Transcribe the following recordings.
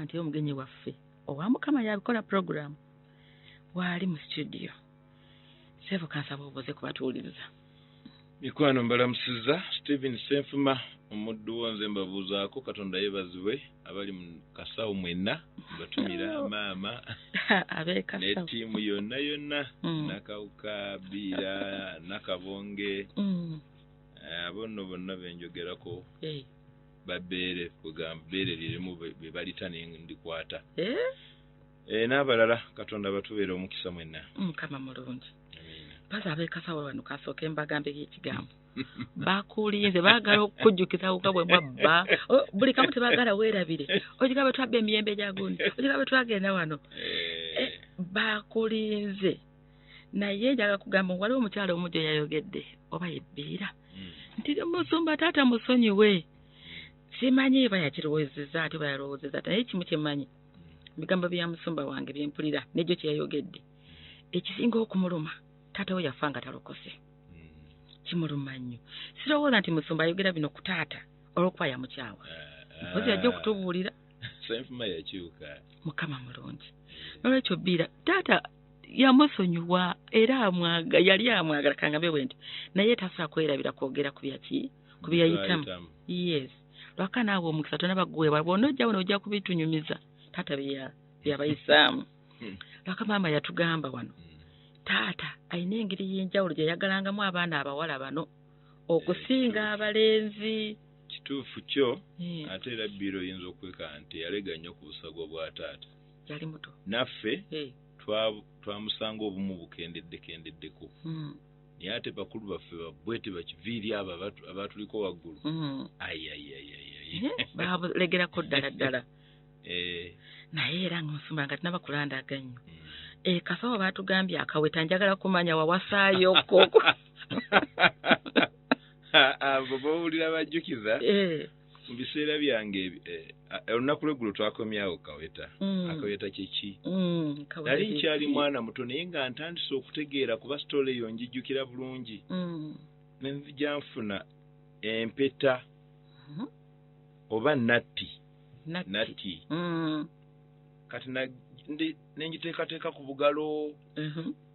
nti omugenyi waffe owa mukama yabikola puroguramu waali mu situdiyo seevu kansaba obuuze kubatuwuliriza mikwano mbalamusiza stephen senfuma omuddu wo nze mbabuuzaako katonda yebazibwe abali mu kasawo mwenna mbatumira maama ne tiimu yonna yonna mm. nakawuka biira nakabonge mm. eh, abo nno bonna benjogerako eh. babeere kwegamba beere lirimu bebalita nendikwata eh? eh, n'abalala katonda batubeera omukisa mwenna mukama mulungi baza abekasawo wano kasooka embagambe y'ekigambo bakulinze baagala okukujjukiza kuka bwe mwabba oh, buli kamu tebaagala weerabire okiga bwe twabba emiyembe gya gundi okiga bwe twagenda wano eh. bakulinze naye njaga kugamba waliwo omukyalo omu gyo yayogedde oba yebbiira hmm. nti musumba taata musonyiwe simanyi eba yakirowozeza ati oba yalowozeza naye ekimu kyemanyi hmm. bigambo bya musumba wange byempulira negyo kyeyayogedde hmm. ekisinga okumuluma taata we yafa nga talokose kimuluma nnyo sirowooza nti musumba ayogera bino ku taata olwokuba yamukyawa eh, eh. mpozi yajja okutubuulira senfuma yakyuka mukama mulungi nolwekyo biira taata yamusonyiwa era amwaga yali amwagala kangabe bwe nti naye tasa kwerabira kwogera ku byaki ku byeyayitamu yes lwaka naawe omukisa tona baguweebwa bwona ojja wona ojja kubitunyumiza taata byabayisaamu hmm. lwaka maama yatugamba wano hmm. taata alina engeri y'enjawulo gye yagalangamu abaana abawala bano okusinga abalenzi kituufu kyo eh. ate era biro oyinza okwekana nti yalega nnyo ku busago bwa taata yali muto naffe eh. twamusanga obumu bukendeddekendeddeko hmm. naye ate bakulu baffe babwe tebakiviiri abo abatuliko waggulu hmm. ayayayayalegerako eh, ddala ddala naye era ngaosumba nga tinabakulanda aganyo hmm. ekasawa batugambye akaweta njagala kumanya wawasaayo koko abo bowulira bajjukiza eh. mu biseera byange eh, olunaku lweggulo twakomyawo kaweta mm. akaweta kyeki mm, nali nkyali mwana muto naye nga ntandise okutegeera kuba sitoola eyo njijjukira bulungi mm. nenzija nfuna empeta mm-hmm. oba natti natti kati nenjiteekateeka ku bugalo mm-hmm.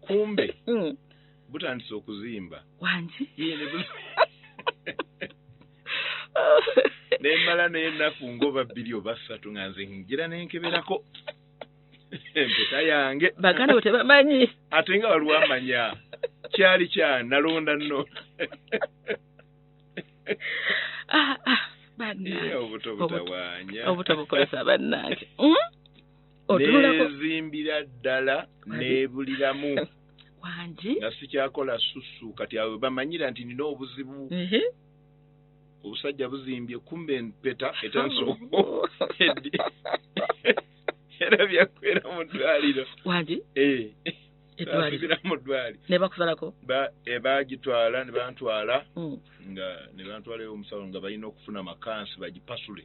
kumbe mm. butandise okuzimba wangi nembala naye ennaku ngaoba bbiri oba ssatu nga nze ngira nenkeberako empeta yange baganda bwe tebamanyi ate nga waliwo amanya kyali kya nalonda nno ah, ah, obuto butawanya obuto bukozesa bannange hmm? nezimbira ddala nebuliramu wangi nga sikyakola susu kati awe bamanyira nti nina obuzibu obusajja buzimbye kumbe empeta etanso era byakwera mu ddwaliro wangi eh. edwaliro mu ddwaliro ne bakusalako eh, bagitwala ne bantwala hmm. nga ne bantwalayo omusawo nga balina okufuna makansi bagipasule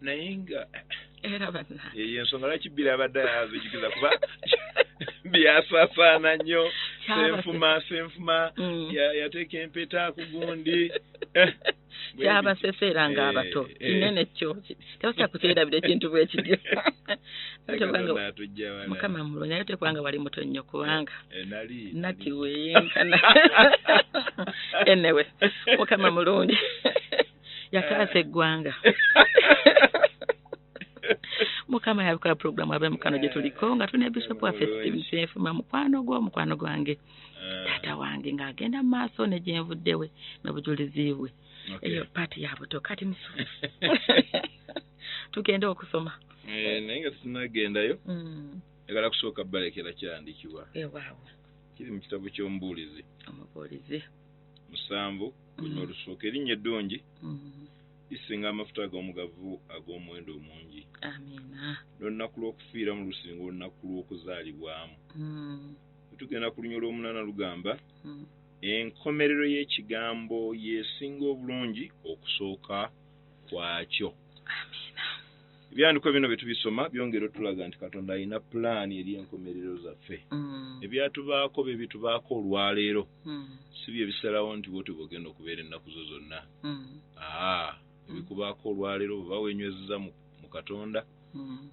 naye nga era bannange eyo ensonga lwaki bbiri abadde azijukiza kuba byasasaana nnyo senfuma senfuma mm. yateeka empeta ku gundi eh, kyabaseseera nga eh, abato eh. kinene kyo tebakya kukyerabira ekintu bwe kityo mukama mulungi naye tekubanga wali muto nnyo kubanga nati weyenkana enewe mukama mulungi yataasa eggwanga mukama yabikola pulogulaamu abe mukano gye tuliko nga tulina bishopu waffe steven kyenfuma mukwano gwo mukwano gwange eh. taata wange ng'agenda mu maaso ne gye nvuddewe n'obujulizi bwe eyo paati ya buto kati musu tugende okusoma eh, naye nga tunagendayo mm. egala kusooka balekera kyandikibwa ewaawo kiri mu kitabo ky'omubuulizi omubuulizi musanvu lunywa olusuuka erinnya eddungi lisinga amafuta ag'omugavu ag'omuwendo omungi n'olunaku lw'okufiiramu lusinga olunaku lw'okuzaalibwamu tugenda ku lunywa olw'omunaana lugamba enkomerero y'ekigambo yesinga obulungi okusooka kwakyo ebyandiko bino bye tubisoma byongera otulaga nti katonda alina pulaani eri enkomerero zaffe mm. ebyatubaako bye bitubaako olwaleero mm. si bye bisalawo nti bwoti bwogenda okubeera ennaku zo zonna mm. aa ebikubaako olwaleero bweba wenywezeza mu katonda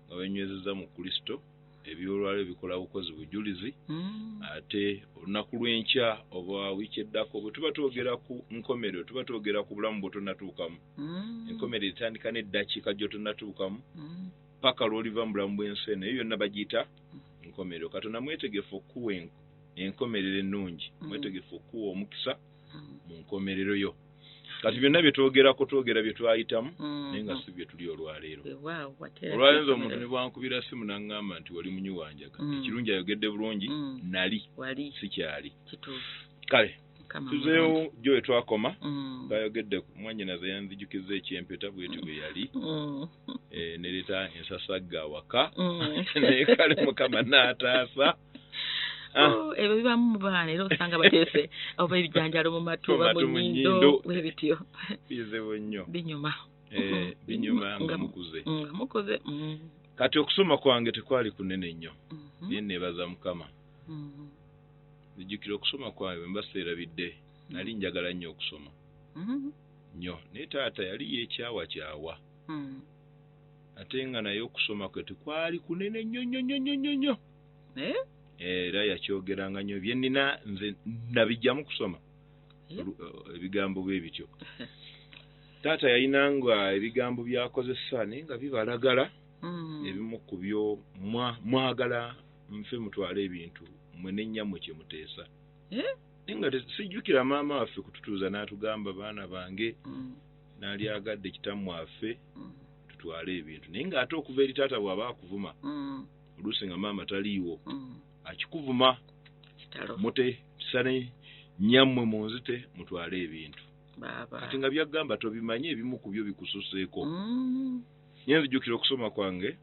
nga wenywezeza mu kristo eby'olwalo ebikola bukozi bujulizi mm. ate olunaku lw'enkya oba wiiki eddako bwe tuba twogera ku nkomerero tuba twogera ku bulamu bw'otonatuukamu mm. enkomerero etandika n'eddakiika gy'otonatuukamu mm. paka lw'oliva mu bulamu bw'ensi eno eyo yonna bagiyita enkomerero katonda mwetegefu okukuwa enkomerero ennungi mwetegefu okukuwa omukisa mu nkomerero yo kati byonna byetwogerako twogera byetwayitamu mm-hmm. naye nga si byetuli olwaleero olwayinza omuntu nebwankubira simu naŋŋamba nti wali munyi wanjaga mm. ekirungi ayogedde bulungi mm. nali sikyali kale tuzeewo jo wetwakoma mm. bayogedde mwanyinaze yanzijukiza ekyempeta bweti bwe yali eh, nereeta ensasagga awaka naye kale mukama naataasa Ah. Oh, ebyo bibamu mu baana era osanga bateese oba ebijanjalo mu matu oba mu nyindo webityo bizibu nnyo binyuma eh, binyuma nga mukuze nga mukuze mm. kati okusoma kwange tekwali kunene nnyo mhm. naye nebaza mukama mhm. nijjukira okusoma kwange mbaseerabidde mhm. nali njagala nnyo okusoma nnyo naye taata yali yekyawa kyawa ate nga naye okusoma kwe tekwali kunene nnyo nnyo nnyo nnyo nnyo eh? era yakyogeranga nyo byenina nze nabijjamu kusoma eh? Eh, ebigambo bwe bityo taata yalinanga ebigambo byakozesa naye nga bibalagala hmm. ebimu ku byo mwagala nfe mutwale ebintu mwe nenyamwe kyemuteesa naye nga sijjukira maama waffe kututuuza n'atugamba baana bange hmm. naali agadde kitamu affe hmm. tutwale ebintu naye ng'ate okuva eri taata bw'aba akuvuma oluusi nga maama taliiwo mm. akikuvuma mute sane nyammwe munzite mutwale ebintu kati nga byagamba tobimanye ebimu ku byo bikususeeko mm. nye nzijukira okusoma kwange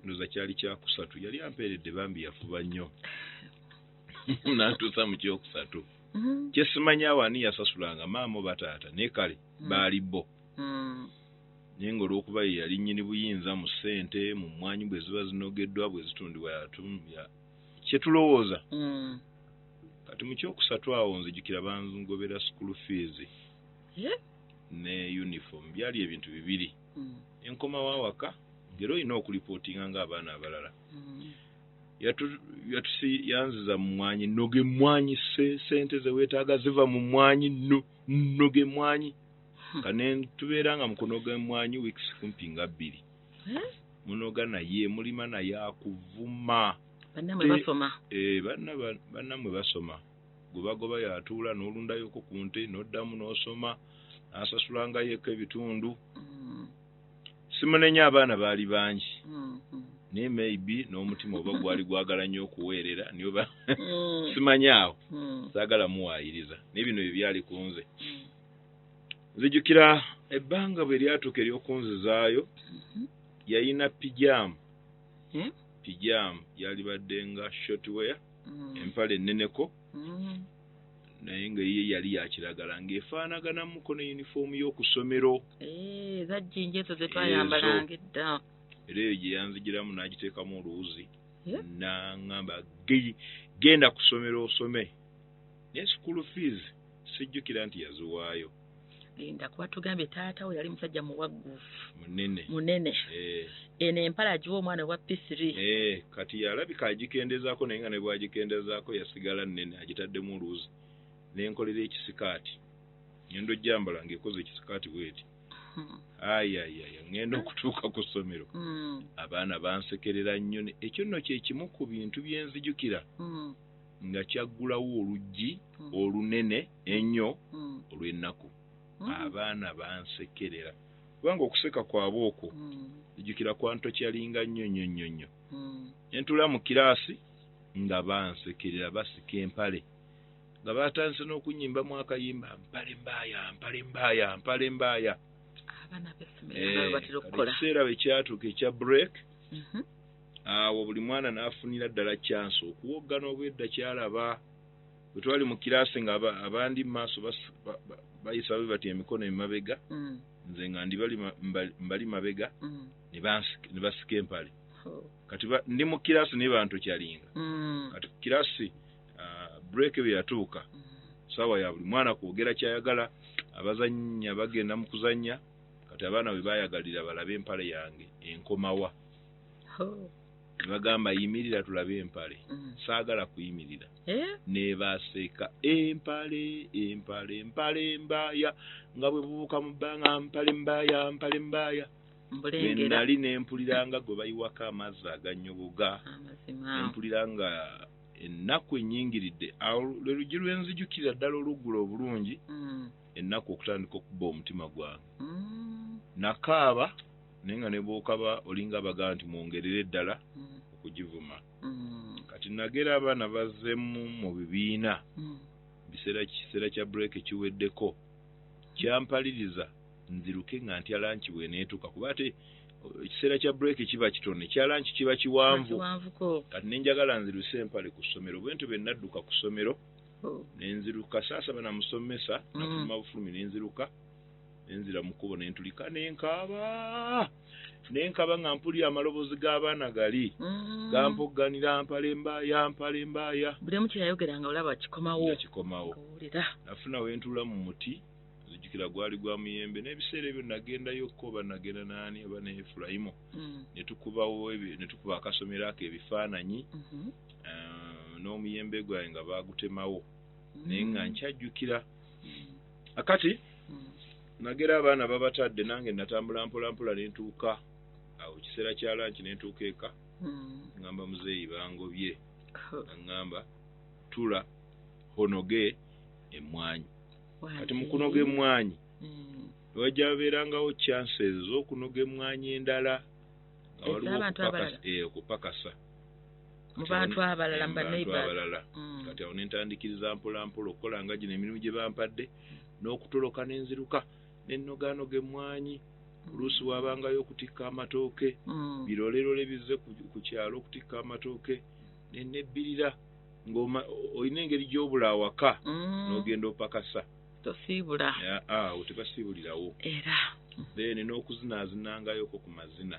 ndoza kyali kyakusatu yali ampeeredde bambi yafuba nnyo nantuusa mu kyokusatu mm-hmm. kyesimanyaawo ani yasasulanga maama oba taata naye kale mm. baali bo mm. naye nga olwokuba ye yali nyini buyinza mu sente mu mwanyi bwe ziba zinogedwa bwe zitundibwa yatumya kyetulowooza mm. kati mu kyokusatu awo nzijukira banzigobera school fees yeah. ne uniform byali ebintu bibiri mm. enkomawo awaka ngera olina okulipotinga nga abaana abalala mm. yatusi yanziza mu mwanyi noge mwanyi sente zewetaaga ziva mu mwanyi noge mwanyi hmm. nga netubeera nga mukunoga emwanyi weeks kumpi nga bbiri hmm? munoga naye mulima naye akuvuma banamwe basoma eh, banamwe basoma gwebagoba yatuula nolundayoko ku nte noddamu nosoma nasasulangayoko ebitundu hmm. simunenya abaana baali bangi naye maybe n'omutima oba gwali gwagala nnyo okuweerera niyo ba mm. simanyaawo mm. saagala muwaayiriza naye bino bye byali ku nze mm. nzijukira ebbanga bwe lyatuuka ery'okunzizaayo mhm. yalina pijaamu pijaamu yalibadde nga shotware mm. empala enneneko mm. naye nga ye yali yakiragala ng'efaanaganamuko ne yunifoomu y'okusomero eh, ezajjinja ezo ze twayambalanga edda era eyo gye yanzigiramu n'agiteekamu oluwuzi n'aŋamba genda ku ssomero osome naye sukulu fiizi Sijjukira nti yaziwaayo. Linda kuba tugambye taata we yali musajja muwagguufu munene munene eh. eno empala agiwa omwana owa pisiri eh, kati yalabika agikendezaako naye nga ne bwagikendezaako yasigala nnene agitaddemu oluuzi nenkolera ekisikaati ngenda ojjambala ngaekoze ekisikaati bweti hmm. ayayaya ngenda okutuuka ku ssomero hmm. abaana bansekerera nnyo ekyo nno kyekimu ku bintu byenzijukira hmm. nga kyaggulawo oluggi mm. olunene ennyo mm. olw'ennaku mm. abaana bansekerera kubanga okuseka kwabwe okwo ejjukira kwantokyalinga nnyo nnyo nnyo nnyo ne ntula mu kiraasi nga bansekerera basika empale nga batandise n'okunyimbamu akayimba mpale mbaaya mpale mbaaya mpale mbaaya ekiseera bwe kyatuuka ekya break mhm. Awo buli mwana n'afunira ddala kyansi okuwoggana obwedda ky'alaba. Bwe twali mu kiraasi nga abandi mu maaso bayisa bwe batyo emikono emabega, mm. nze nga ndi mbali mabega mm. ne basika empale. Oh. Kati ndi mu kiraasi naye bantokyalinga. Mm. Kati ku kiraasi ah, bureeke bwe yatuuka, saawa ya buli mwana kwogera ky'ayagala, abazannya bagenda mu kuzannya, kati abaana bwe baayagalira balabe empale yange enkomawa. nebagamba yimirira tulabe empale mm. saagala kuyimirira eh? nebaseeka empale empale empale mbaaya nga bwe bubuuka mu bbanga mpale mbaaya mpale mbaaya nali nempuliranga gwe bayiwako amazzi aganyoboga nempulira nga ennaku enyingiridde awo lwe lugi lwenzijukirira ddala oluggula obulungi mm. ennaku okutandika okuba omutima gwange mm. nakaaba naye nga nebwokaba olinga abagala nti mwongerere ddala mm. okugivuma mm. kati nagera abaana bazemu mu bibiina mm. biseera kiseera kya break kiweddeko kyampaliriza nziruke nga ntya lanki bweneetuka kuba ate uh, ekiseera kya break kiba kitono ekya lanki kiba kiwanvu kati nenjagala nziruse empale ku ssomero bwentyo be nadduka ku ssomero oh. nenziruka saasaba namusomesa nafuluma mm. bufulumi nenziruka nenzira mu kkubo ne ntulika ne nkaaba ne nkaaba nga mpulira amaloboozi g'abaana gali mm. gampogganira mpale mbaaya mpale mbaaya buli omu kyeyayogera nga olaba kikomawo kikomawo nafuna we ntuula mu muti nzijukira gwali gwa muyembe n'ebiseera ebyo nagendayo ko banagenda naani oba ne efulayimu mm. netukubawo ne tukuba akasomero ako ebifaananyi mm-hmm. ah, n'omuyembe gwange nga baagutemawo naye nga mm. nkyajjukira akati nagera abaana babatadde nange natambula mpolampola nentuuka awo kiseera kya lanki nentuuka eka ngamba muzeeyi bangobye angamba tula honoge emmwanyi kati mukunoga emmwanyi wajja babeerangawo chanse ez'okunoga emmwanyi endala nga waliwo okupakasa eh, mu bantu abalala mu bantu abalala mm. kati awo nentandikiriza mpolampola okukola nga gino emirimu gye bampadde n'okutoloka nenziruka nenogaanoga emmwanyi oluusi wabangayo okutikka amatooke mm. birolelole bizze ku kyalo okutikka amatooke nenebbirira ngaolina engeri gyobula awaka mm. nogenda opakasa tosiibula awo tebasiibulirawo era then n'okuzinazinangayoko ku mazina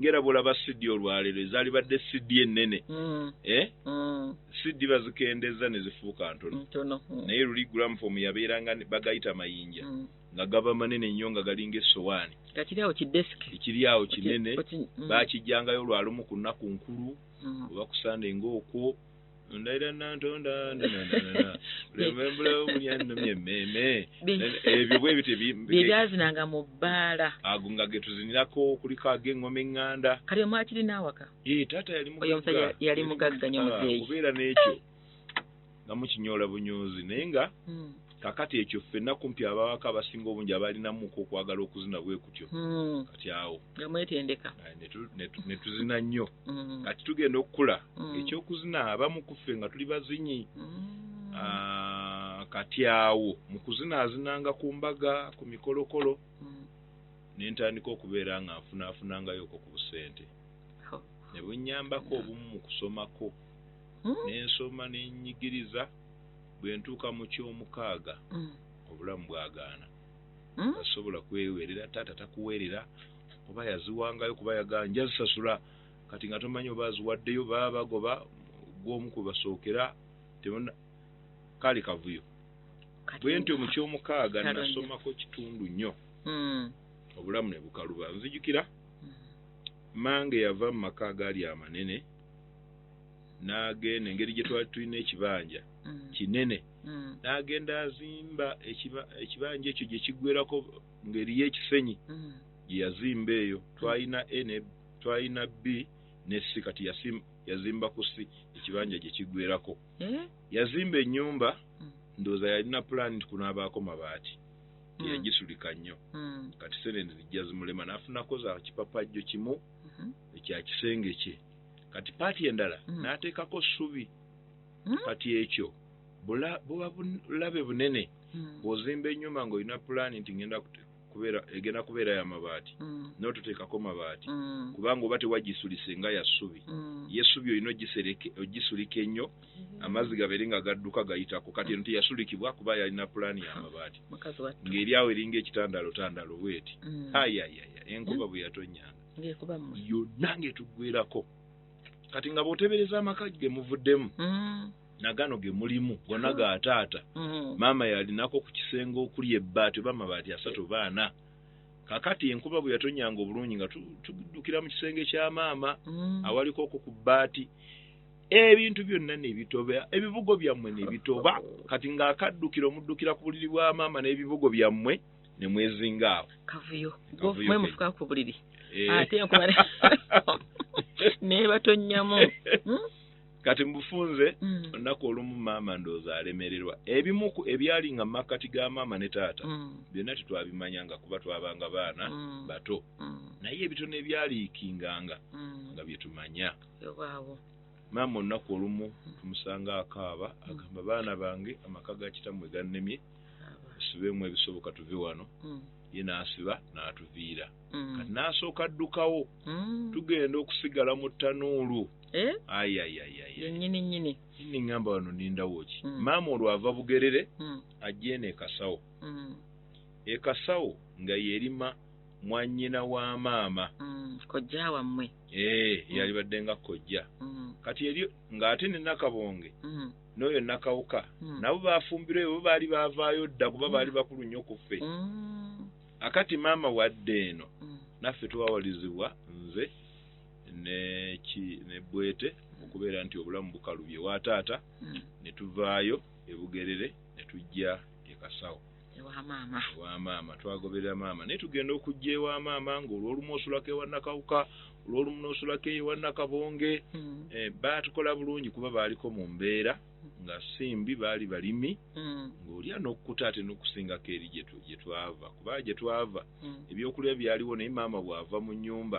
ngera bwolaba CD olwalero ezalibadde CD enene mm. eh? mm. CD bazikendeza nezifuuka ntono mm. naye luli gram form yabeeranga bagayita mayinja mm. nga gaba manene nnyo nga galinga esowaani ekiri awo kinene mm. bakijjangayo lwalumu ku nnaku nkulu mm. oba kusande ngaokwo ndayira nantonda lembulawo muli annumya emmeeme ebyo bwe bityo bye byazinanga mu bbaala ago nga ge tuzinirako kuliko ag'engoma eŋŋanda kati omwakirina awaka ee taata yali mugagga yali mugagga nyo muzeeyi kubeera n'ekyo nga mukinyoola bunyoozi naye nga hmm. Kakati ekyo ffenna kumpi ababaka abasinga obungi abalinamuko okwagala okuzina bwe kutyo hmm. kati awo nga mwetendeka ne tuzina nnyo hmm. kati tugenda okukula hmm. ekyokuzina abamu kuffe nga tuli bazinyi ah, kati awo mu kuzina azinanga ku mbaga ku mikolokolo ne ntandika okubeera nga nfunaafunangayoko ku busente oh. ne bunyambako obumu mu kusomako ne nsoma ne nnyigiriza bwe ntuuka mu ky'omukaaga mm. obulamu bwagaana mm. asobola kwewerera taata takuwerera oba yaziwangayo kuba yaganja zisasula kati nga tomanyi oba aziwaddeyo baba bagoba gwomu kwe basookera tebona kaali kavuyo bwe ntyo mu ky'omukaaga nasomako kitundu nnyo mm. obulamu ne bukaluba nzijukira mm. mange yava mu maka agaali amanene n'agenda engeri gye twali tulina ekibanja mm. kinene mm. n'agenda azimba ekibanja ekyo gye kiggwerako ngeri y'ekisenyi mm. gye yazimba eyo twalina a ne twalina b ne si kati yazimba ku si ekibanja gye kiggwerako eh? yazimba ennyumba ndowooza yalina pulaani nti kunaabaako mabaati teyagisulika nnyo kati sente zijja zimulema n'afunako za kipapajjo kimu mm-hmm. ekya kisenge kye kati paati endala mm. n'ateekako ssubi mm. kati ekyo buba bulabe bunene mm. bw'ozimba ennyumba ng'olina pulaani nti ngenda kubeera egenda kubeera ya mabaati mm. n'otuteekako mabaati mm. kubanga oba tewagisulise nga ya ssubi mm. ye ssubi olina ogisulika ennyo mm. amazzi gabeere nga gadduka gayitako kati eno teyasulikibwa kuba yalina pulaani ya mabaati ng'eri awo eringa ekitandaalo tandaalo bweti mm. ayayaya enkuba bwe yatonyanga ng'ekuba mmwe yonna ng'etuggwerako kati nga bw'otebereza amaka ge muvuddemu mm. nagano ge mulimu gonna ga taata mm. maama yalinako ku kisenge okuli ebbaati oba amabaati asatu oba ana kakati enkuba bwe yatonyanga obulungi nga tuddukira mu kisenge kya maama mm. awaliko okwo ku bbaati ebintu byonna nebitoba ebibugo byammwe nebitoba kati ng'akaddukira omuddukira ku buliri bwa maama n'ebibugo byammwe ne mwezinga awo kavuyo mwe mufuka ku buliri eh. ate nkuba nebatonyamu hmm? kati mubufunze hmm. olunaku olumu maama ndooza alemererwa ebimu ebyali nga makkati ga maama ne taata hmm. byonna tetwabimanya nga kuba twabanga baana bato naye ebitono ebyaliikinganga nga byetumanya maama olunaku olumu tumusanga akaaba agamba baana bange amaka ga kitamwe gannemye tusibeemu ebisoboka tuve wano mm. ye n'asiba n'atuviira mm. kati n'asooka addukawo mm. tugenda okusigala mu ttanuulu eh? ayayayayanyininyini ni ŋŋamba wano nindawo ki maama olwava bugerere ajja eno ekasawo ekasawo nga yerima mwanyina wa maama kojja wammwe ee eh, yalibadde nga kojja kati eri ng'ate ne nakabonge n'oyo Nakawuka mm. nabo baafumbirwa ebyo baali baavaayo dda kuba baali mm. bakulu nnyo ku ffe mm. akati maama wadde eno mm. naffe twawalizibwa nze neki ne bwete mm. okubeera nti obulamu bukalubye wa taata mm. ne tuvaayo ebugerere ne tujja ekasawo ewa maama ewa maama twagoberera maama naye tugenda okujja ewa maama ngaolwolumu osulako ewa nakawuka olwolumu nosulako eyo ewa nakabonge hmm. eh, baatukola bulungi kuba baaliko mu mbeera nga si mbi baali balimi hmm. ng'olya n'okukuta ate n'okusingako eri gye twava kubanga gye twava hmm. ebyokulya byaliwo naye maama bw'ava mu nnyumba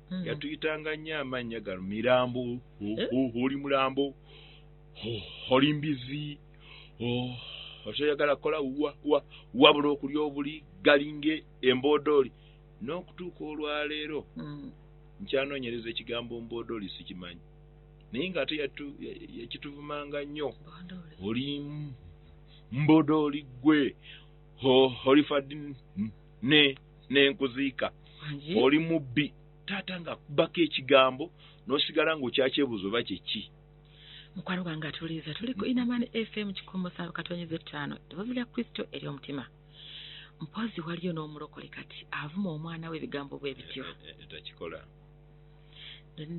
Mm. yatuyitanga nnyo amannya gano mirambo eh? oli mulambo oli mbizi okyayagala kukola wabula okulya obuli galinga emboodooli n'okutuuka olwaleero mm. nkyanoonyereza ekigambo mboodooli sikimanyi naye ng'ate yakituvumanga nnyo oli mboodooli ggwe olifadde ne nenkuziika oli mubbi taata nga kubako ekigambo nosigala nga okyakyebuuza oba kyeki mukwano gwange atuliza tuli ku inaman fm kikumi musanvu katonyeza ettaano eddoboozi lya kristo eri omutima mpozi waliyo n'omulokole kati avuma omwana we ebigambo bwe bityo eh, eh, eh, takikola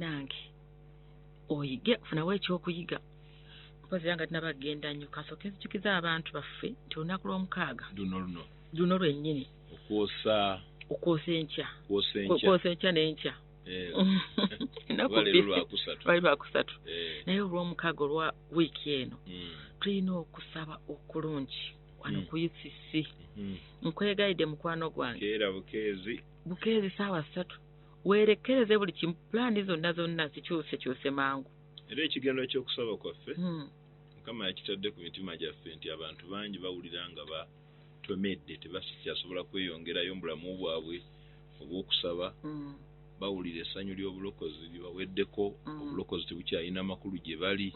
nange oyige funawo ekyokuyiga mpozi era nga tinaba genda nnyo kasooke nzijukiza abantu baffe nti olunaku lw'omukaaga luno luno luno lwennyini okwosa okwosa enkya kwosa Kwe- enkya kwosa enkya n'enkya Eh, Ennaku oba leero bbiri. lwakusatu lwali lwakusatu Eh, naye olw'omukaaga olwa wiiki eno mm, tulina okusaba okulungi wano Mm. ku ucc mhm. nkwegayidde mukwano gwange keera bukeezi bukeezi saawa ssatu weerekereze buli kimu pulaani zonna zonna zikyusekyuse mangu era ekigenero ky'okusaba kwaffe Mm. mukama yakitadde ku mitima gyaffe nti abantu bangi bawulira nga ba twemedde tebakikyasobola kweyongerayo mu bulamu bwabwe obw'okusaba, bawulira essanyu ly'obulokozi libaweddeko, obulokozi tebukyalina makulu gye bali.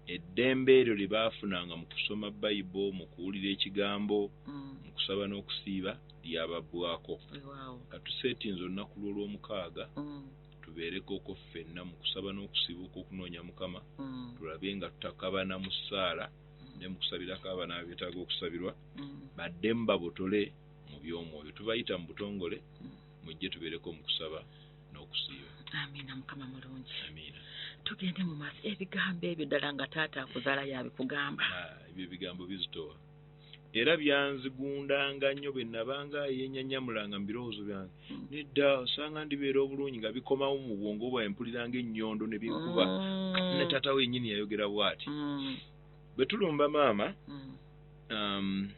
Eddembe eryo lye baafunanga mu kusoma Bayibo, mu kuwulira Ekigambo, mu kusaba n'okusiiba, lyababbwako. Ka tuseetinze olunaku lw'Olwomukaaga tubeerekooko ffenna mu kusaba n'okusiiba okw'okunoonya Mukama, tulabe nga tutakabana mu ssaala, ne mu kusabirako abaana abetaaga okusabirwa mm. baddemu babotole mu by'omwoyo tubayita mu butongole mm. mujje tubeereko mu kusaba n'okusiiba amiina mukama mulungi amiina tugende mu maaso ebigambo ebyo ddala nga taata akuzaala yabikugamba ah, ebyo ebigambo bizitowa era byanzigundanga nnyo bwe nabanga yennyanyamulanga mu birowoozo byange Nedda, osanga ndibeera obulungi nga bikomawo mu bwongo bwawe mpulira nga ennyondo ne binkuba. Mm. Ne taata we yennyini yayogera bw'ati. Mm. Bwe tulumba maama, mm. um,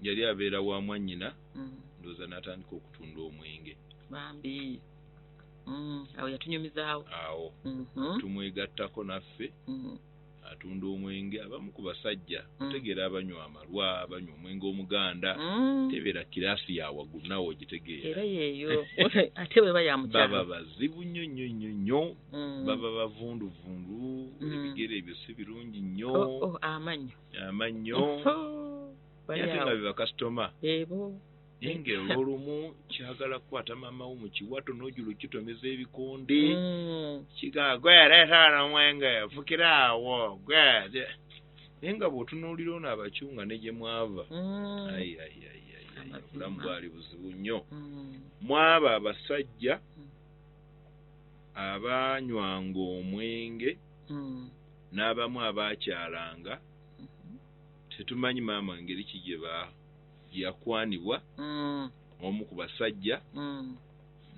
yali abeera wa mwannyina, mm. ndowooza n'atandika okutunda omwenge. Bambi. Mm. Awo yatunyumizaawo. Awo. Mm -hmm. Tumwegattako naffe. Mm -hmm. Atunda omwenge abamu ku basajja mm. otegera abanywa amalwa banywa omwenge omuganda mm. tebera kirasi ya wagulu nawe ogitegeera era yeyo ate weba ya mukyalo baba bazibu nnyo nnyo nnyo nnyo mm. baba bavundu vundu mm. ebigere ebyo si birungi nnyo oh, oh, amanyo amanyo ate nga bebakasitoma ebo naye nga olwolumu kyagala kukwata maama wo mukiwato nojula okitomeza ebikonde mm. kiga gwe leeta wano omwenge fukira awo gwe naye nga bwotunuulira ono abakyunga ne gye mwava mm. obulamu bwali buzibu nnyo mm. mwaba abasajja abaanywanga omwenge n'abamu abaakyalanga mm-hmm. tetumanyi maama ngeri ki gye baa gye yakwanibwa omu ku basajja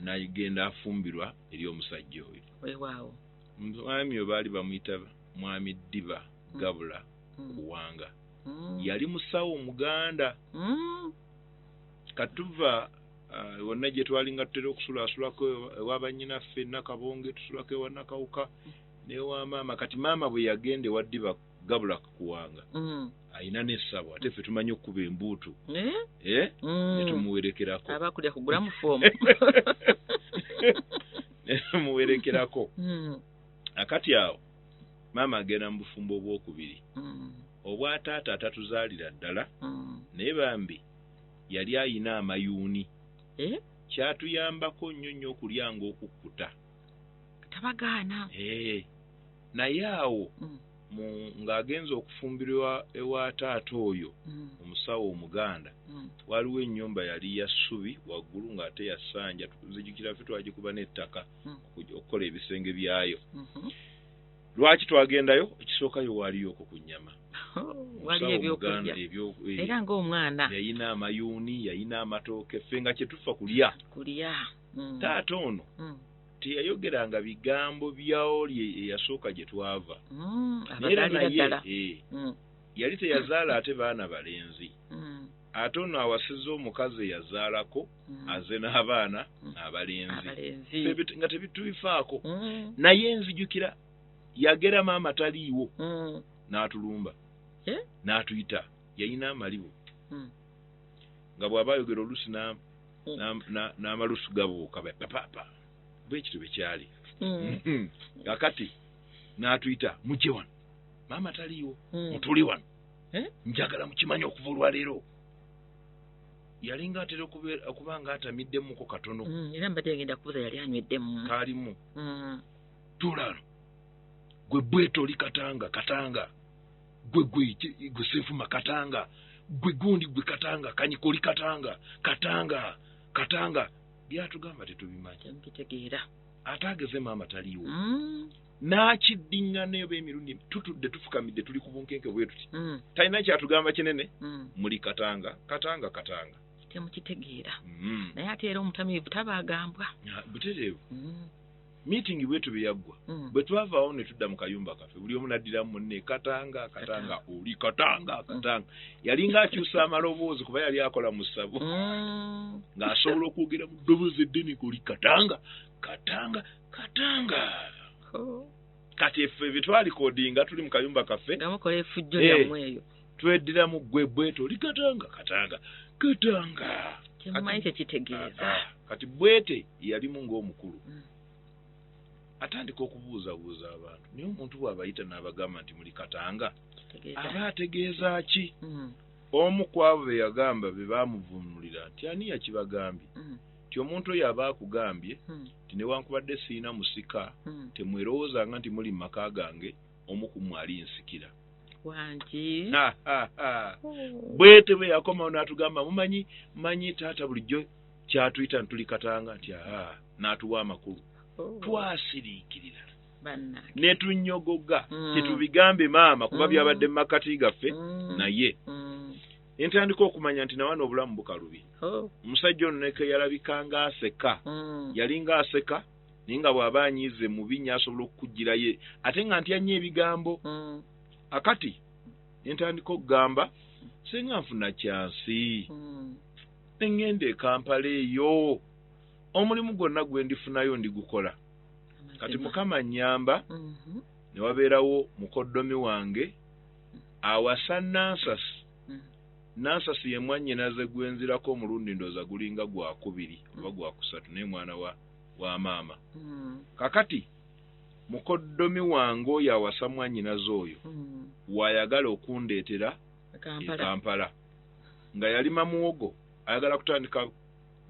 nagenda afumbirwa eri omusajja oyo. Weewaawo. Mwami oyo baali bamuyita Mwami Ddiba Gabula Kuwanga. Yali musawo Muganda. Kati tuva uh, wonna gye twali nga tutera okusulasulako ewa bannyinaffe Nakabonge, tusulako ewa Nakawuka n'ewa maama. Kati maama bwe yagenda ewa Ddiba gabula kuwanga mm. alina n'essabo ate ffe tumanyi okukuba embuutu eh? Eh? Mm. netumuwerekerako aba kulya kugula mu foomu netumuwerekerako mm. akati awo maama agenda mu bufumbo obwokubiri obwa taata atatuzaalira ddala naye bambi yali ayina amayuuni eh? kyatuyambako nnyo nnyo okulyanga okukkuta tabagaana eh, naye awo mm. ng'agenza okufumbirwa ewa taata oyo mm. omusawo omuganda mm. waliwo ennyumba yali ya ssubi waggulu ng'ate yasanja nzijukira ffe twagikuba n'ettaka mm. okukola ebisenge byayo mm-hmm. lwaki twagendayo ekisookayo waaliyo okwo ku nnyama waliyo ebyokulya eh, era ng'omwana yayina amayuuni yayina amatooke ffe nga kye tufa kulya kulya mm. taata ono mm. teyayogeranga bigambo byaoli eyasooka gye twava mm, era naye eh, mm. yali teyazaala ate baana balenzi mm. ate ono awasiza omukazi eyazaalako aze n'abaana abalenzi nga tebitubifaako naye nzijukira yagera maama taliiwo n'atulumba eh? n'atuyita yalina amalibu nga bw'aba ayogera olusi n'amalusu gabuuka bapapa bwe kityo bwe kyali mm. kakati n'atuyita mujje wano maama taliiwo mm. mutuli wano eh? njagala mukimanya okuva olwaleero yalinga atera okuba nga atamiddemuko katono mm, era mbadde ngenda kubuza yali anyweddemu kaalimu tulano gwe bwetoli katanga katanga gwe gwe gwe senfuma katanga gwe gundi gwe katanga kanyikoli katanga katanga katanga byatugamba tetubimanyi bitegeera ate ageze maama taliiwo mm. n'akiddiŋŋana eba emirundi tutudde tufukamidde tuli ku bunkenke bwe tuti mm. talina kyatugamba kinene mm. muli katanga katanga katanga temukitegeera naye ate era omutamiivu tabaagambwa butereevu Meeting bwetyo bwe yaggwa. Mm. Bwe twavaawo ne tudda mu kayumba kaffe, buli omu n'addiramu munne Katanga, Katanga, oli Katanga, mm. Katanga. Yalinga akyusa amaloboozi kuba yali akola mu ssabo. Mm. Ng'asobola okwogera mu ddoboozi eddene oli Katanga, Katanga, Katanga. Kati effe bye twalikodinga tuli mu kayumba kaffe. Nga mukola efujjo lyammwe eh. eyo. tweddira mu ggwe bweto oli katanga katanga katanga kyemumanyi kyekitegeeza ah, ah. kati bwete yalimu ng'omukulu mm. atandika okubuuzabuuza abantu naye omuntu bw'abayita n'abagamba nti muli katanga aba ategeeza ki mm. omu ku abo be yagamba be baamuvuunulira nti ani yakibagambye mm. nti omuntu oyo aba akugambye nti newankubadde sirina musika temwerowoozanga nti muli mu maka gange omu ku mmwe ali nsikira wangi bwete bwe yakomawo n'atugamba mumanyi manyi taata bulijjo kyatuyita ntuli katanga nti aha n'atuwa amakulu oh. twasiriikirira ne tunyogoga mm. tetubigambe maama kuba mm. byabadde mu makkati gaffe mm. naye ne ntandika okumanya nti nawana obulamu bukalubi oh. omusajja ono nekeyalabika ng'aseka yali ng'aseka naye nga bw'aba anyiize mubi nnyo asobola okukugirayo ate nga ntya nnyo ebigambo mm. akati ne ntandika okugamba singa nfuna kyansi mm. ne ŋŋenda e kampala eyo omulimu gwonna gwe ndifunayo ndigukola kati mukama nnyamba mm-hmm. ne wabeerawo mukoddomi wange awasa nansasi mm. nansasi ye mwannyinaze gwenzirako omulundi ndooza gulinga gwakubiri oba gwakusatu naye mwana wa wa maama mm. kakati mukoddomi wange oyo awasa mwanyinaze oyo mm. waayagala okundeetera ekampala e nga yalima muwogo ayagala kutandika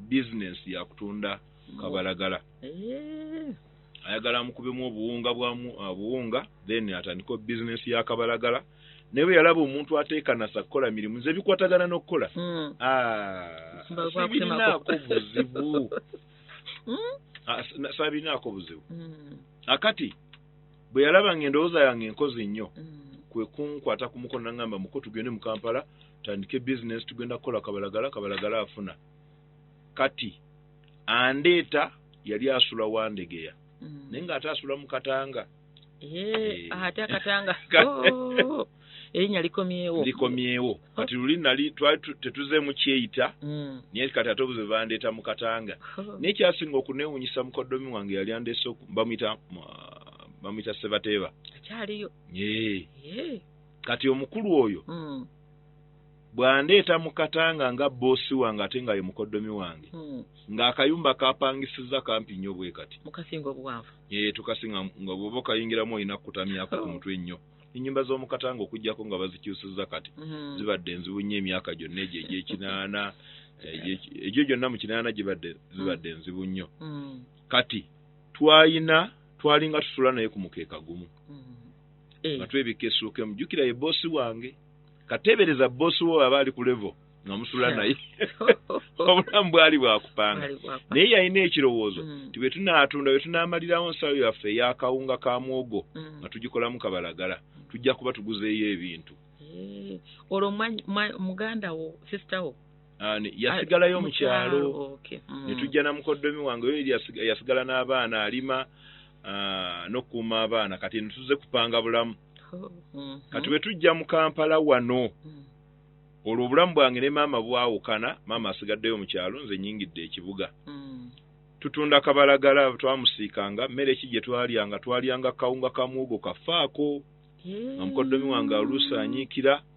bizinensi yakutunda kabalagala eh. ayagala amukubemu obuwunga bwamu obuwunga then atandika bizinensi ya kabalagala naye bwe yalaba omuntu ateekanasa kukola mirimu nze bikwatagana n'okukola hmm. ah, sibirinaako buzibu hmm? ah, sabirinaako buzibu hmm. akati ah, bwe yalaba nga endowooza yange enkozi nnyo kwe kunkwata ku mukono nagamba muko tugende mu kampala tandike bizinesi tugenda kukola kabalagala kabalagala afuna kati andeeta yali asula wandegeya naye nga ate asula mu katanga Eh, eh. ate akatanga oh, erinya likomyewo likomyewo oh. kati luli nali tetuzemu kyeyita mm. naye kati ate obuze bandeeta mu katanga oh. naye kyasinga okunewunyisa mukodomi wange yali andeese bamuyita bamuyita sebateeba akyaliyo kati omukulu oyo mm. bwandeeta mu katanga nga boosi wange ate nga ye mukoddomi wange hmm. ng'akayumba kapangisizza kampi nnyo bwe kati mukasinga obuwanvu ee eh, tukasinga nga bwoba okayingiramu olina kukutamyako ku oh. mutwe nnyo ennyumba z'omu katanga okuggyako nga bazikyusizza kati hmm. zibadde enzibu nnyo emyaka gyonna egyo egy'ekinaana egyo gyonna mu kinaana gibadde zibadde hmm. enzibu nnyo kati twalina twalinga tusula naye ku mukeeka gumu nga twebikka esuuka emu jjukira ye boosi wange katebereza boss wo aba ali ku level nga musula naye obulamu bwali bwakupanga naye yalina ekirowoozo mm. ti bwetunatunda bwetunamalirawo nsawo yaffe eyakawunga ka mwogo mm. nga tugikolamu kabalagala tujja kuba tuguzeeyo ebintu eh, olwo muganda wo sister wo yasigalayo mu kyalo mm. ne tujja na mukoddomi wange oyo yasigala n'abaana alima ah, n'okukuuma abaana kati ne tuze kupanga bulamu oh, mm-hmm. kati bwe tujja mu kampala wano mm. olwo obulamu bwange ne maama bwawukana maama asigaddeyo mu kyalo nze nyingidde ekibuga mm. tutunda kabalagala twamusiikanga mmere ki gye twalyanga twalyanga kawunga ka muwogo kafaako nga mukoddomi wange aluusa anyiikira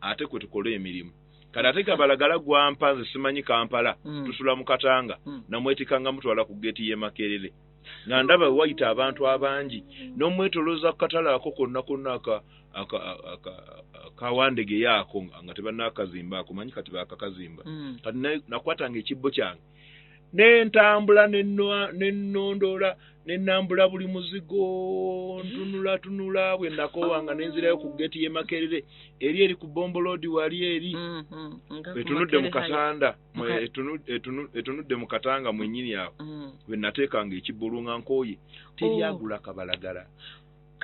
ate kwe tukola emirimu kati ate kabalagala gwampa nze simanyi kampala mm. tusula mu katanga mm. namwetikanga mutwala ku geeti y'e makerere nga ndaba wayita abantu abangi n'omwetolooza ku katale ako konna konna akawandege yaako nga tebanaakazimba ako manyi kati baakakazimba mm. kati nakwatanga ekibbo kyange n'entambula nenondoola nenambula buli muzigo ntunula tunula bwe nakoowa nga nenzirayo ku geeti y'e makerere eri eri ku bomboloodi wali eri mm-hmm. etunudde mu katanda etunudde mu katanga mwenyini awo mm. bwe nateekanga ekibbulu nga nkooye teryagula oh. kabalagala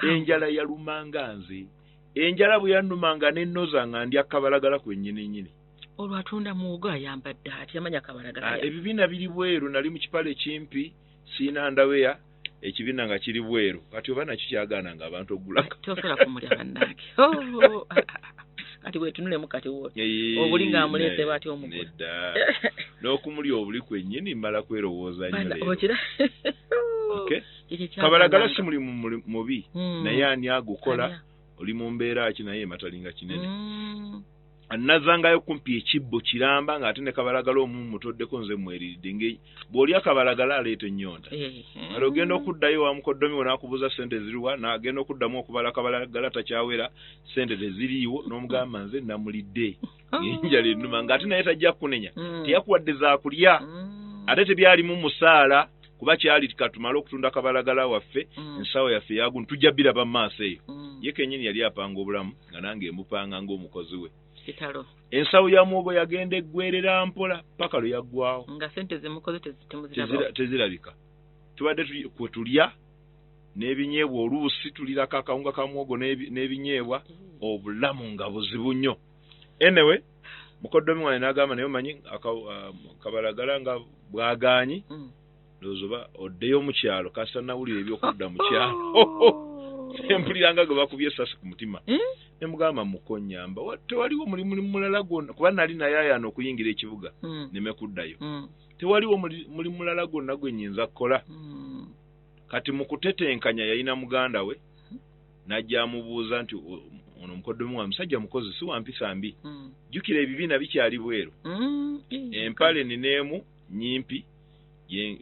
enjala yalumanga nze enjala bwe yanumanga nennoza nga ndya kabalagala kwennyini nyini olwo atunda muwogo ayambadde atya manya kabalagala ah, ebibiina biri bweru nali mu kipale ekimpi siina ndaweya ekibiina nga kiri bweru kati oba nakyo kyagaana nga abantu ogulaka tosobola kumulya bannange oh, oh, oh, ah, ah, kati wetunulemu kati woti obuli nga amuleete batya omugula n'okumulya obuli kwennyini mmala kwerowooza nyookira kabalagala si mulimu mubi hmm. naye ani agukola oli mu mbeera ki naye ematalinga kinene hmm. nazangayo kumpi ekibbo kiramba nga ate ne kabalagala omu mutoddeko nze mweriridde nge bw'oli akabalagala aleeta ennyonta eh. ale ogenda okuddayo wamukoddomi wonakubuuza sente ziriwa nagenda okuddamu okubala kabalagala takyawera sente teziriiwo n'omugamba nze namulidde oh. enjala ennuma nga ate naye tajja kunenya mm. teyakuwadde zakulya mm. ate tebyalimu musaala kuba kyali katumale okutunda kabalagala waffe mm. ensawo yaffe yagun tujja biraba mu maaso eyo ye kenyini yali apanga obulamu nga nange emupanga ng'omukozi we kitalo ensawo ya muwogo yagenda eggwerera mpola paka lwe yaggwawo nga sente zemukoze tezirabika tubadde kwe tulya n'ebinyeebwa oluusi tulirako akawunga ka muwogo n'ebinyeebwa mm. obulamu nga buzibu nnyo enewe mukoddomi wange n'agamba naye omanyi um, kabalagala nga bwagaanyi mm. ndowooza oba oddeyo mu kyalo kasita nawulira ebyokudda mu kyalo empuliranga gwe bakubye esasi ku mutima hmm? ne mugamba mukonyamba tewaliwo mulimu mulala gwonna kuba nali naye ayana okuyingira ekibuga hmm. neme kuddayo hmm. tewaliwo muli mulala gwonna gwe nyinza kukola kati mu kutetenkanya yalina muganda we najja amubuuza nti ono mukoddomi wa musajja mukozi si wampisa mbi jjukira ebibiina bikyali bweru empale nineemu nyimpi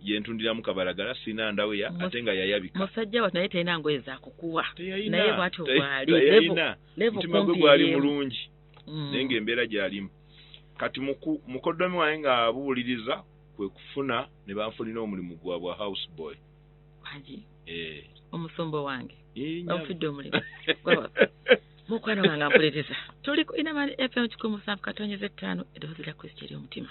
yentundiramu kabalagala sina ndaweya ate nga yayabika musajja watu naye tayina ngoye zakukuwa naye bwati obwali mutima gwe gwali mulungi mm. naye ngaembeera gyalimu kati mukoddomi wange nga abuwuliriza kwe kufuna ne banfunira omulimu gwa bwa house boy eh. omusumba wange bamufidde omulimu mukwano wange ampulereza tuli ku inamani fm kikumi musanvu katonyeza ettaano eddoboozi lya kristo eri omutima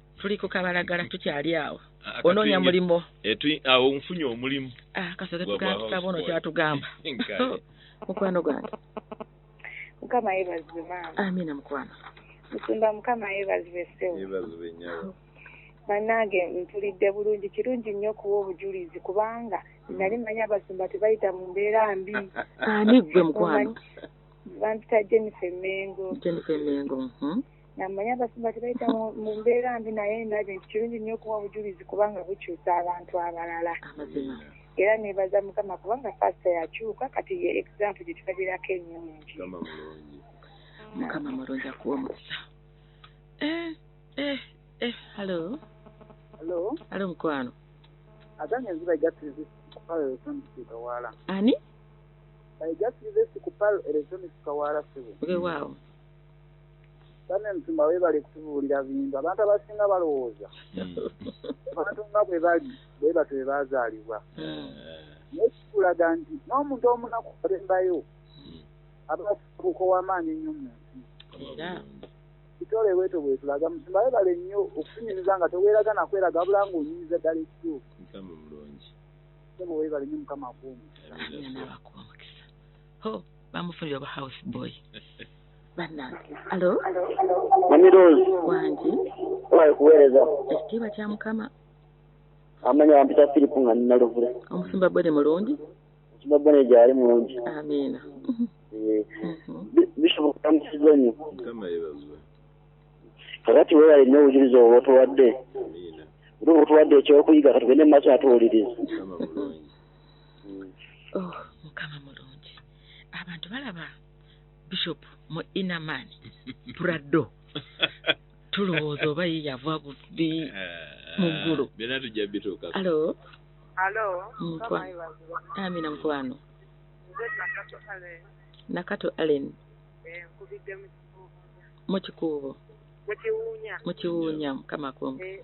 tuli ku kabalagala tukyali awo ah, onoonya mulimu awo nfunye omulimu ah, kasoke tugatutaba ono kyatugamba mukwano gwange mukama yebazibwe maama amina mukwano musumba mukama yebazibwe sewo yebazibwe nyawo banange mpulidde bulungi kirungi nnyo okuwa obujulizi kubanga mm. nali manyi abasumba tebayita mu mbeera mbi ani gwe mukwano bampita jennifer mengo jennifer mengo mhm. namanya abasumba tebayita mu mbeera mbi naye ndabye nti kirungi nnyo okuwa obujulizi kubanga bukyusa abantu abalala era nebaza mukama kubanga pasita yakyuka kati ye example gyetulabirako enyungi mukama mulungi akuwa omukisa eh, eh, eh, hallo hallo hallo mukwano aganye nziba ejatirizi kupalo eresonisikawaala ani ejatirizi kupalo eresonisikawaala sibu wewaawo Bane musumba webale kutubuulira bintu abantu abasinga balowooza hmm. abantu nga bwe bali bwe batyo bwe baazaalibwa hmm. naye kikulaga nti n'omuntu omunaku alembayo hmm. abafuuka ow'amaanyi ennyo mu nsi kitole bwetyo bwetulaga musumba webale nnyo okutunyumiza nga teweeraga nakweraga wabula nga onyumiza ddala ekituufu webale nnyo mukama akuumu bamufunira oba house boy bannange alo mamirozi wangi owaye kuweereza ekitiibwa kya mukama amanya bampita firipu nga ninaluvule omusumba bone mulungi omusumba bone gyali mulungi amiina eh, mhm. bisoboka musiza nyo kakati wewale nyo obujulizi obwo otuwadde otuwadde ekyokuyiga katugende mu maaso natuwuliriza mm. oh, mukama mulungi abantu balaba bishop mu inaman prado tulowooza oba ye yava bubbi eh, mu ggulu byona tujja bituuka alo alo amina mukwano nakato allen eh, mukikuubo mukiwuunya mukama kumpi eh,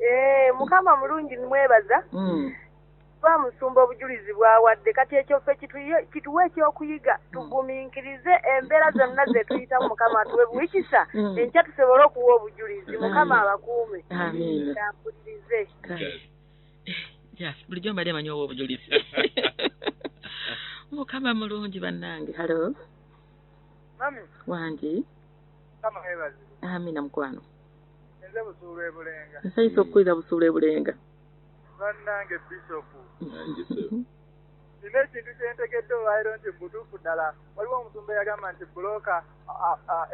Eh, mukama mulungi nimwebaza mm. ba musumba obujulizi bwawadde kati ekyo ffe kituwa ekyokuyiga mm. tuguminkirize embeera zonna zetuyitamu mukama tuwe buwikisa mm. enkya tusobole okuwa obujulizi mukama abakuume ampulirize eh, bulijjo mbadde manyi owa obujulizi mukama mulungi bannange halo wangi amina mukwano Nze busuulu e Bulenga. Nsanyuse okukulira busuulu e Bulenga. Bannange Bisopu. Nina ekintu kye ntegedde olwaliro nti butuufu ddala waliwo omusumba eyagamba nti bbulooka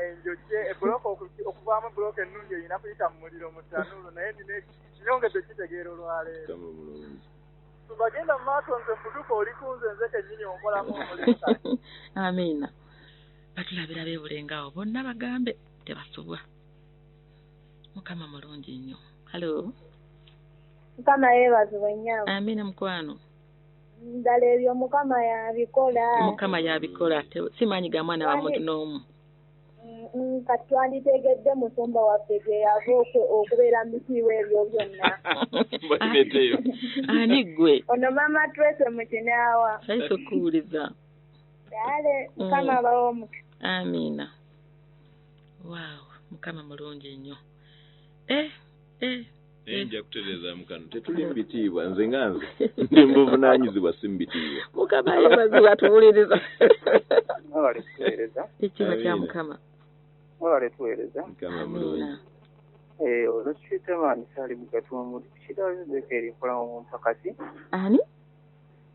enjojje ebbulooka okuvaamu bbulooka ennungi erina kuyita mu muliro mu ttanuulu naye nina nyongedde kitegeera olwaleero. Tubagenda mu maaso nze butuufu oli ku nze nze kennyini onkolamu omulimu. Amiina. Batulabira beebulengawo bonna bagambe tebasubwa. mukama mulungi nnyo halo mukama yeebazibwe nnyo amina mukwano ddala ebyo mukama yabikola mukama yabikola simaanyi ga mwana wa muntu n'omu mm, kati twanditegedde musumba waffe gye yava okubeera mutiiwa ebyo byonna ani gwe ono mama twese mukinaawa ayisa okuwuliza dale mm. mukama abawo omukisa amiina waaw mukama mulungi nnyo eh, eh, naye eh. nja kutereezaamu kano tetuli mu bitiibwa nze nga nze ndi mubuvunanyizibwa si mu bitiibwa mukama yebazibwa tuwuliriza ekiba kya mukama mwebale tuweereza mukama mulungi eh, olwekitamaani saali mugatwa omuli kirayo nzeka eri nkola mu mpakati ani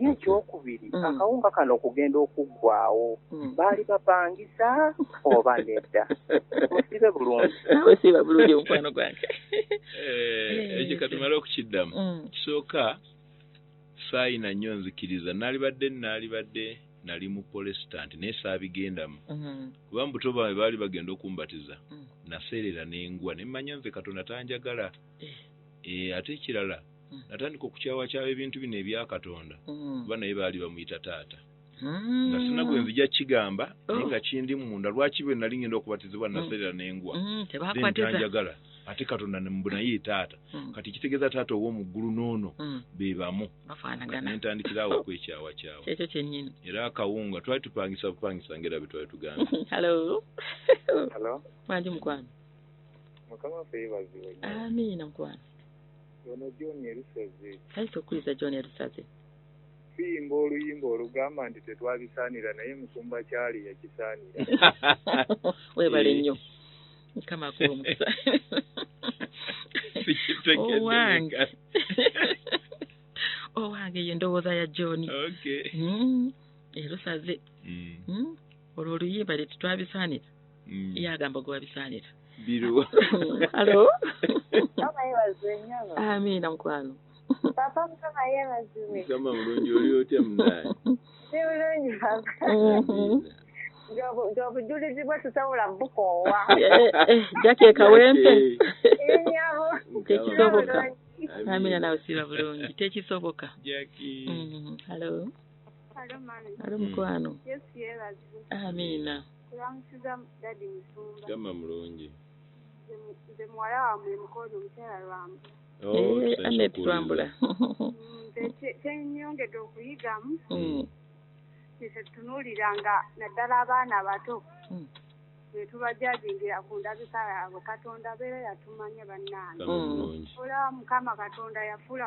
ye ekyokubiri mm. akawunga kano okugenda okuggwawo mm. baali bapangisa oba nedda musibe bulungi nawe siba bulungi omukwano gwange eh, ekyo katumale okukiddamu mm. kisooka saayina nnyo nzikiriza naalibadde naalibadde nali mu polesitanti naye saabigendamu mm-hmm. kuba mubuto bwange baali bagenda okumbatiza naseerera nengwa nemmanya nze katonda tanjagala eh. Eh, ate ekirala mm. natandika okukyawakyawa ebintu bino ebya katonda mm. kuba naye baali bamuyita taata mm. nga sina gwe nzija kukigamba naye oh. nga kindi munda lwaki bwe nali ngenda okubatizibwa naserera nengwa ntanjagala ate katonda mbu naye taata kati kitegeeza taata ow'omu ggulu n'ono be bamu nentandikirawo okwekyawakyawa era akawunga twali tupangisa bupangisa ngaera bye twali tugamba amiina mukwano Ono John Erusaze. Kale tokkiriza John Erusaze. Tuyimba oluyimba olugamba nti tetwabisaanira naye Musumba Kyali yakisaanira. Webale nnyo. Mukama akuwe omukisa. Owange. Owange ye ndowooza ya John. Okay. Mm. Erusaze. Mm. Mm. Olwo oluyimba tetwabisaanira. mm. ye agamba gwe wabisaanira biruwa alo amiina mukwano papa mukama yeebazibwe mukama mulungi oli otya munaani si bulungi papa gyobujulizi bwe tusobola bukoowa jaki ekawempe enyabo tekisoboka amina nawe siba bulungi tekisoboka halo halo mukwano amina Kulamusiza daddy musumba. Kama mulungi. Nze muwala wa mwe mukono mutera lwambu. Oh, eh, eh ane twambula. Nze tenyongede okuyigamu. Mm. Nze tunulira nga naddala abaana abato. Mm. netubajajingira ku ndabika yaabwe katonda beera yatumanya bannange mm. olaba mukama katonda yafuula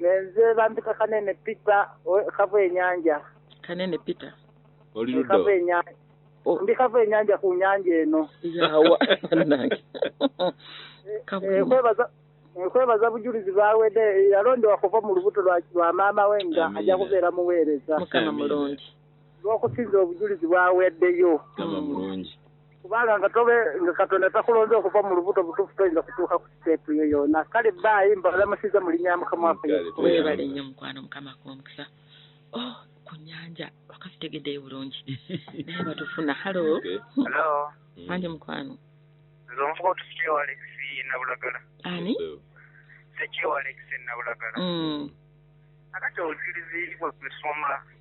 nenze bampita kanene pita kava enyanja kanene pita kava enyanja oh. ndi kava enyanja ku nyanja eno yawa nange kwebaza nkwebaza bujulizi bwawede yalondewa kuva mu lubuto lwa maama we nga ajja kubeera muweereza mukama mulungi lw'okusinza obujulizi bw'aweeddeyo kubanga nga tobe nga katonda takulonze okuva mu lubuto butuufu toyinza kutuuka ku siteepu yo yoona kale baayi mbalamusiza mu linnya mukama waffewebale nnyo mukwano mukama akuwamukisa oh, ku nyanja wakati tegeddeyo bulungi naye batufuna halo manje mukwano nzonvuga otusikiwa alexi nabulagala ani sekiwa alexi nabulagala mm. akati obujulizi bwe tusoma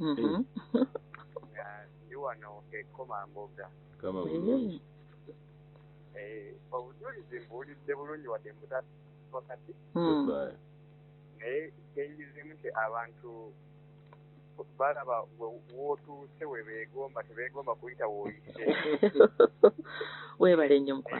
mm-hmm. nga ndi wano ekomamboga mm-hmm. eh, obujulizi mbuwulidde bulungi wadde mbutakati mm. naye kyenyizimu nti abantu balaba wotuuse webeegomba tebeegomba kuyita woyise webale nnyo mukwa